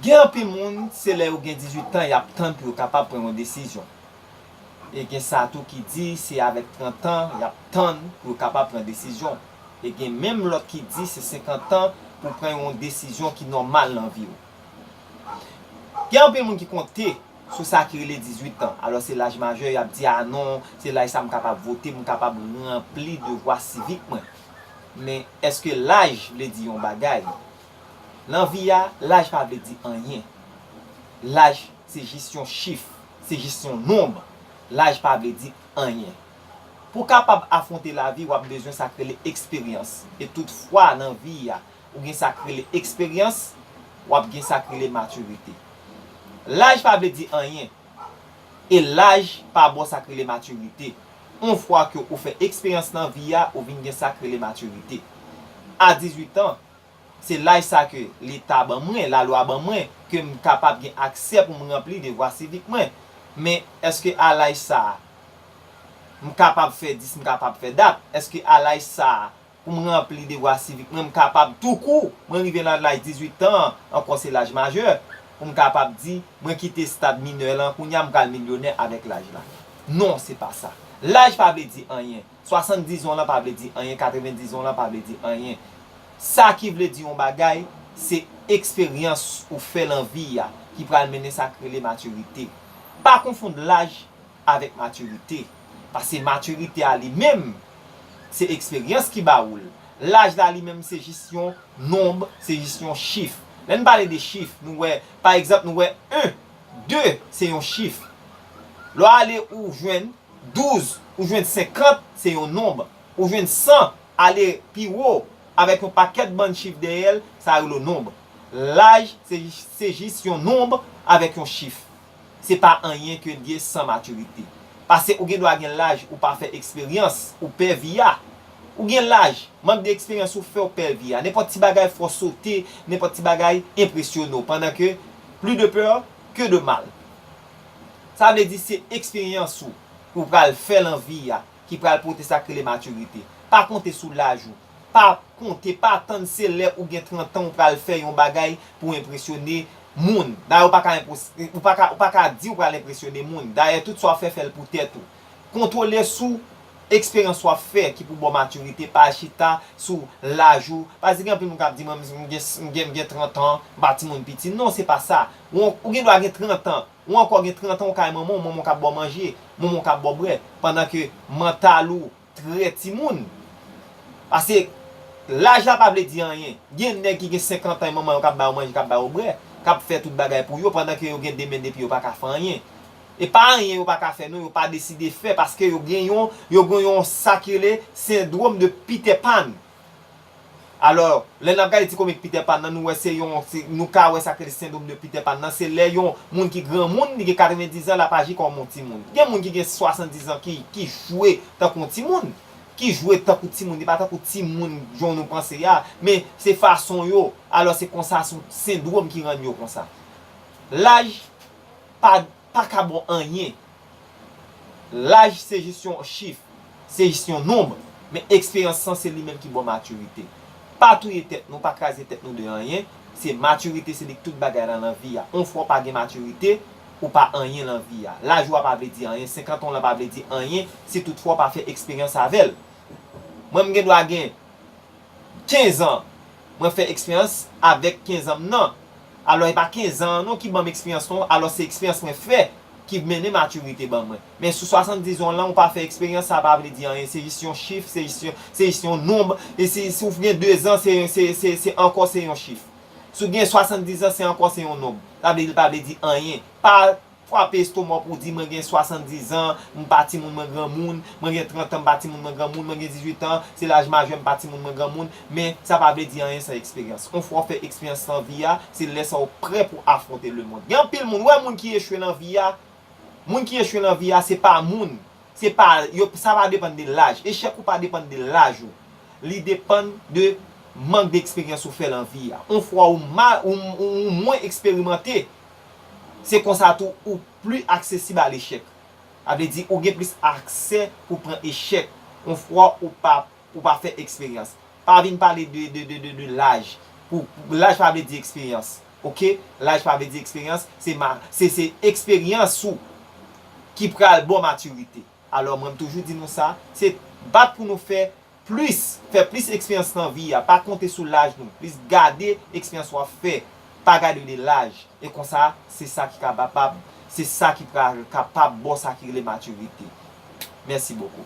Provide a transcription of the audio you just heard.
Gen anpil moun se lè yo gen 18 tan y ap tann pou yo kapab pran yon desizyon. E gen sa tou ki di se avèk 30 tan y ap tann pou yo kapab pran desizyon. E gen menm lòt ki di se 50 tan pou w pran yon desizyon ki nòmal nan vi w. Gen anpil moun ki konte sou sa ki rele 18 tan, alò se laj majè y ap di a non, se laj sa m kapab vote, m kapab ranpli devwa sivik mwen. Men, èske laj vle di yon bagay? Nan vi a, laj pa vle di anyen. Laj se jis yon chif, se jis yon nonb. Laj pa vle di anyen. Pou kapab afwonte lavi wap bezwen sak rele eksperyans. E tout fwa nan vi a ou gen sak rele eksperyans, wap gen sak rele matirite. Laj pa vle di anyen. E laj pa baw sak rele matirite. On fwa ke ou fè eksperyans nan vi a ou vin gen sak rele matirite. A 18 ans, Se laj sa ke Leta ban mwen, lalwa ban mwen, ke m kapab gen aksè pou m ranpli devwa sivik mwen. Men, èske a laj sa a, m kapab fè dis, m kapab fè dat? Èske a laj sa a, pou m ranpli devwa sivik mwen, m kapab tou kou, mwen rive nan laj 18 tan an, ankò se laj majè, pou m kapab di, mwen kite stad minè lan, kounye a m pral milyonè avèk laj la? Non, se pa sa. Laj pa vle di anyen. 70 zon lan pa vle di anyen 90 zon lan pa vle di anyen sa ki vle di yon bagay se eksperyans ou fè lan vi a ki pral mennen sa k rele matirite pa konfond laj avèk matirite pase matirite a li menm se eksperyans ki ba ou l laj la li menm se jis yon nonb se jis yon chif lè n pale de chif nou wè pa egzanp nou wè 1 2 se yon chif lè w ale ou jwenn. Douz, ou jwenn senkant, se yon nonb. Ou jwenn san, ale pi wo, avèk yon pakèt bann chif dèyè l, sa yo lo nonb. Laj, se jis yon nonb avèk yon chif. Se pa anyen ke n gen san matirite. Pase ou gen dwa gen laj ou pa fè eksperyans, ou pè vi a. Ou gen laj, mank de eksperyans ou fè w pè vi a. Nenpòt ti bagay fè w sote, nenpòt ti bagay enpresyone w, pandan ke plus de peur que de mal. Sa vle di se eksperyans ou ke w pral fè lan vi a ki pral pote sa k rele matirite. Pa konte sou laj ou. Pa konte, pa tann se lè ou gen 30 tan ou pral fè yon bagay pou enpresyone moun. Dayè ou pa ka enpos, ou pa ka, ou pa ka di ou pral enpresyone moun. Dayè tout sa w fè, fè l pou tèt ou. Kontwole sou eksperyans w ap fè ki pou ba w matirite, pa chita sou laj ou. Paske gen anpil moun k ap di mwen m gen, m gen 30 an, m pa timoun piti. Non, se pa sa. Ou gen dwa gen trantan, ou ankò gen trantan ou kay manman w, manman w kap ba w manje, manman w kap ba w bwè, pandan ke mantal ou trè timoun. Pase, laj la pa vle di anyen. Gen nèg ki gen 50 an e manman yo kap ba yo manje, kap ba yo bwè, kap fè tout bagay pou yo, pandan ke yo gen 2 men 2 pye yo pa ka fè anyen. E pa anyen yo pa ka fè non, yo pa deside fè, paske yo gen yon, yo gen yon sa ki rele sendwom de Peter Pan. Alò, lè n ap gade ti komik Peter Pan nan, nou wè se yon, nou ka wè sa k rele sendrom de Peter Pan nan, se lè yon moun ki granmoun, li gen 90 zan, l ap aji kòm yon timoun. Gen moun ki gen 70 zan ki, ki jwe tankou yon timoun, ki jwe tankou timoun, li pa tankou timoun jan nou panse a, men se fason yo, alò se konsa, se yon sendrom ki rann yo konsa. Laj pa. paka bon anyen. Laj se jis yon chif, se jis yon nonb, men eksperyans san se li menm ki baw matirite. Pa touye tèt nou, pa kraze tèt nou de anyen, se matirite se li k tout bagay lan lan vi a. On fwa w pa gen matirite, ou pa anyen lan vi a. Laj ou a pa vle di anyen, 50 an w lan pa vle di anyen si tout fwa w pa fè eksperyans avèl. Mwen m gen dwa gen 15 an mwen fè eksperyans avèk 15 an m nan alò e pa 15 an an non ki banm eksperyans non alò se eksperyans mwen fè ki mennen matirite ban mwen men sou 70 an w lan ou pa fè eksperyans sa pa vle di anyen se jis yon chif se jis yon se jis yon nonb e si si w gen 2 zan se se se se ankò se yon chif si w gen 70 zan se ankò se yon nonb sa vle di l pa vle di anyen pa Frape estonma w pou w di, Mwen gen swasanndizan, m pa timoun mwen granmoun, mwen gen trantan m pa timoun mwen granmoun, mwen gen dizwitan, se laj majè m pa timoun mwen granmoun, men sa pa vle di anyen san eksperyans. On fwa w fè eksperyans san vi a, se lè sa w prè pou w afwonte lemond. Gen anpil moun, ou wè moun ki echwe lan vi a, moun ki echwe lan vi a se pa moun, se pa, yo, sa pa depann de laj, echèk ou pa depann de laj ou, li depann de mank de eksperyans ou fè lan vi a. On fwa ou mal, ou mwen eksperimante. Se konsa tou ou pli aksesib a lechèk. Sa vle di ou gen plis aksè pou pran echèk yon fwa ou pa ou pa fè eksperyans. Pa vin pale de de de de de laj pou laj pa vle di eksperyans ok laj pa vle di eksperyans se ma se se eksperyans ou ki pral baw matirite. Alò mwen m toujou di nou sa se bat pou nou fè Plis, fè plis eksperyans nan vi a, pa konte sou laj nou, plis gade eksperyans wap fè, pa gade de laj, e konsa se sa ki kabapab, se sa ki pral kapab baw sa ki rele maturite. Merci beaucoup.